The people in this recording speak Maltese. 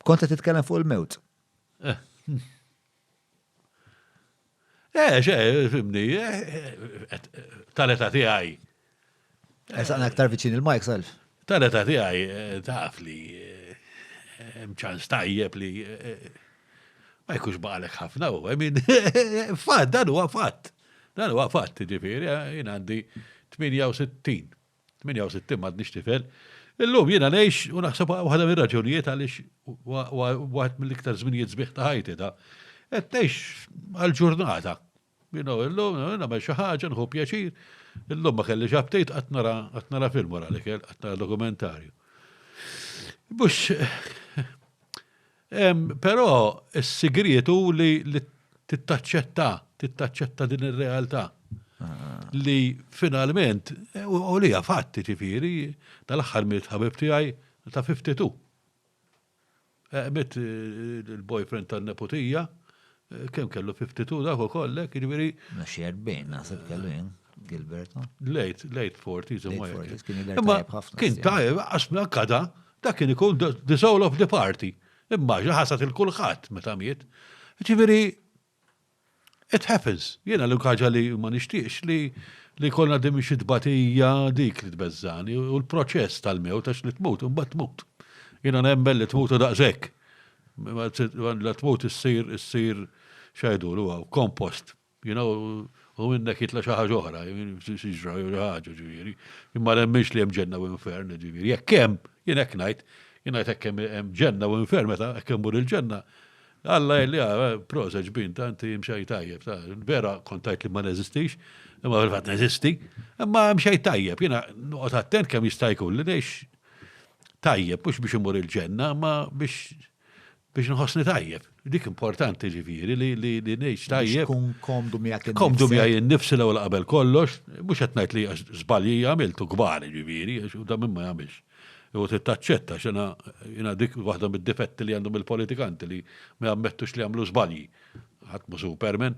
Kont qed titkellem fuq il-mewt. Eh, eh xe, fimni, eh, tal-età tiegħi. Esaqna eh, aktar viċin il-mike self. Tal-età tiegħi taf li hemm ċans tajjeb li ma jkunx baqalek ħafna u min fatt dan huwa fatt. Dan huwa fatt, ġifieri, jien għandi 68. 68 m'għadnix tifel. Illum jiena ngħix u naħseb waħda mir-raġunijiet għaliex waħed mill-iktar żminijiet sbieħ ta' ħajti da. Qed ngħix għall-ġurnata. You know, illum nagħmel xi ħaġa, nħu pjaċir. Illum ma kellix aptit qatt nara film wara l-ikel, qatt nara dokumentarju. Bux Però s-sigriet hu li tittaċċetta, tittaċċetta din ir-realtà. Li finalment, u li fatti ġifieri, tal-aħħar miet ħabib tiegħi ta' 52. Mit il-boyfriend tan-neputija, Kemm kellu 52 dak ukoll hekk, jiġifieri. Ma xi 40 naħseb kellu jien, Gilbert. Late, late 40s imma hekk. Imma kien tajjeb għax mela kada dak kien ikun the soul of the party. Immaġina ħasad il kulħadd meta miet. Jiġifieri it happens. Jiena l ħaġa li ma nixtieqx li li jkollna din xi tbatija dik li tbeżżani u l-proċess tal-mewt għax li tmut imbagħad tmut. Jiena nemmen li tmutu daqshekk. Mela tmut issir, issir, x'għidulu hawn, compost. You know, u minnek jitla' xi ħaġa oħra, siġra jew xi ħaġa, ġifieri. Jien ma nemminx li hemm ġenna u infern, ġifieri. Jekk hemm, jien hekk ngħid, jien ngħid hekk hemm ġenna u infern meta hekk immur il-ġenna, Alla jgħidli, ah, proset ġbin, ta' inti imxej tajjeb, ta', vera kont tgħid li ma neżistix, imma fil-fatt neżisti, imma hemm xejn tajjeb, jiena noqgħod attent kemm jista' jkun li ngħix tajjeb, mhux biex imur il-ġenna, ma biex biex nħossni tajjeb. Dik importanti ġifieri li li li ngħix tajjeb. Tkun komdu miegħek Komdu miegħi innifsi l ewwel qabel kollox, mhux qed ngħid li żbalji għamiltu kbar ġifieri, u da minn ma jagħmilx. U tittaċċetta x'ina jiena dik waħda mid-difetti li għandhom il-politikanti li ma jammettux li jagħmlu żbalji. Ħadd mhu superman.